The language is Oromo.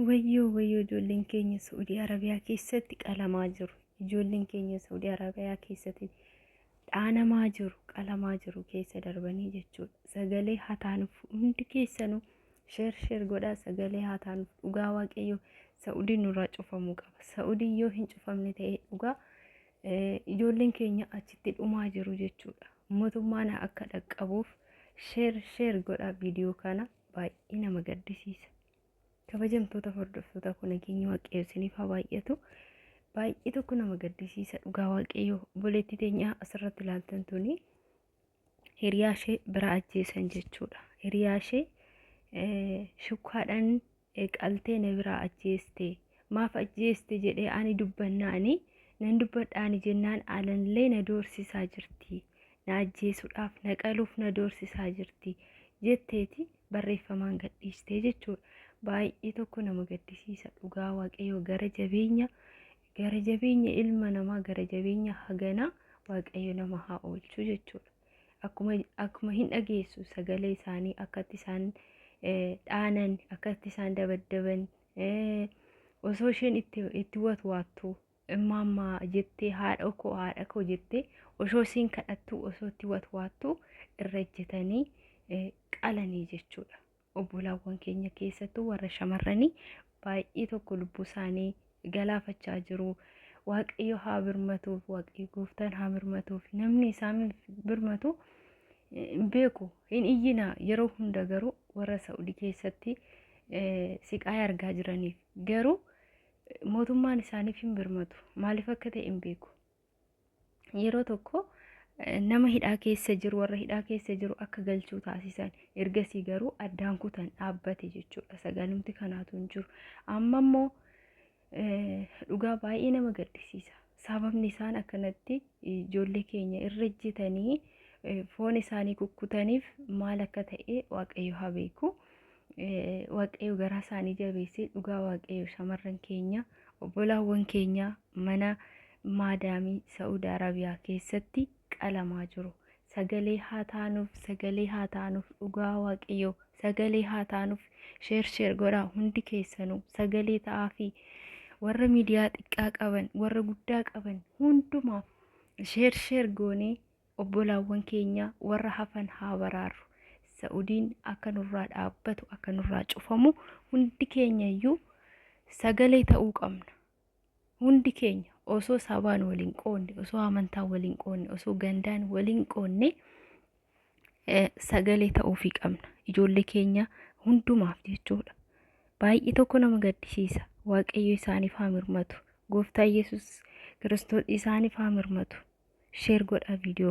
Wayyoo wayyoo ijoolleen keenya Suudii Arabiyaa keessatti qalamaa jiru. Ijoolleen keenya Suudii Arabiyaa keessatti dhaanamaa jiru, qalamaa jiru keessa darbanii jechuudha. Sagalee hataanuuf hundi keessanuu sheer sheer godhaa sagalee hataanuuf dhugaa waaqayyoo Saudii nurraa cufamuu qaba. Saudii yoo hin cufamne ta'e dhugaa ijoolleen keenya achitti dhumaa jiru jechuudha. Mootummaan akka dhaqqabuuf sheer sheer godhaa viidiyoo kana. baay'ee nama gaddisiisa. Kabajamtoota hordoftoota koo nageenyi waaqayyoo isiniif haa baay'atu. Baay'ee tokko nama gaddisiisa dhugaa waaqayyoo obboleettii teenyaa asirratti ilaaltan tuni hiriyaa ishee bira ajjeesan jechuudha. Hiriyaa ishee shukkaadhaan qaltee na biraa ajjeestee. maaf ajjeeste jedhee ani dubbannaani nan dubbadhaani jennaan alanillee na doorsisaa jirti na ajjeesuudhaaf na qaluuf na doorsisaa jirti jetteeti barreeffamaan gadhiistee jechuudha. Baay'ee tokko nama gaddisiisa dhugaa waaqayyoo gara jabeenya gara jabeenya ilma namaa gara jabeenya haganaa waaqayyo nama haa oolchu jechuudha. Akkuma akkuma hin dhageessu sagalee isaanii akkatti isaan dhaanan akkatti isaan dabaddaban osoo isheen itti itti watwaattu maammaa jettee haadha koo haadha koo jettee osoo isiin kadhattu osoo itti watwaattu irra ejjetanii qalanii jechuudha. Obbolaawwan keenya keessattuu warra shamarranii baay'ee tokko lubbuu isaanii galaafachaa jiru. Waaqayyo haa birmatuuf, waaqayyo gooftaan haa birmatuuf. Namni isaan birmatu hin beeku. Hin iyyinaa yeroo hunda garuu warra Sa'udi keessatti siqaaya argaa jiraniif garuu mootummaan isaaniif hin birmatu maaliif akka ta'e hin beeku. Yeroo tokko nama hidhaa keessa jiru warra hidhaa keessa jiru akka galchuu taasisan ergasii garuu addaan kutan dhaabbate jechuudha sagalumti kanaatu hin jiru amma immoo Dhugaa baay'ee nama gaddisiisa. Sababni isaan akkanatti ijoollee keenya irra ejjetanii foon isaanii kukkutaniif maal akka ta'e waaqayyo haa beeku. Waaqayyo garaa isaanii jabeessee dhugaa waaqayyo shamarran keenya obbolaawwan keenya mana maadaamii Sa'uud Arabiyaa keessatti qalamaa jiru. Sagalee haa taanuuf sagalee haa taanuuf dhugaa waaqayyoo sagalee haa taanuuf sheer sheer godhaa hundi keessanuu sagalee ta'aa fi warra miidiyaa xiqqaa qaban warra guddaa qaban hundumaaf sheer sheer goonee obbolaawwan keenya warra hafan haa baraarru sa'udiin akka nurraa dhaabbatu akka nurraa cufamu hundi keenya iyyuu sagalee ta'uu qabna hundi keenya osoo sabaan waliin qoonne osoo amantaan waliin qoonne osoo gandaan waliin qoonne eh, sagalee ta'uufii qabna ijoollee keenya hundumaaf jechuudha baay'ee tokko nama gaddisiisa waaqayyo isaaniif haa mirmatu gooftaa yesus kiristoos isaaniif haa mirmatu sheer godhaa viidiyoo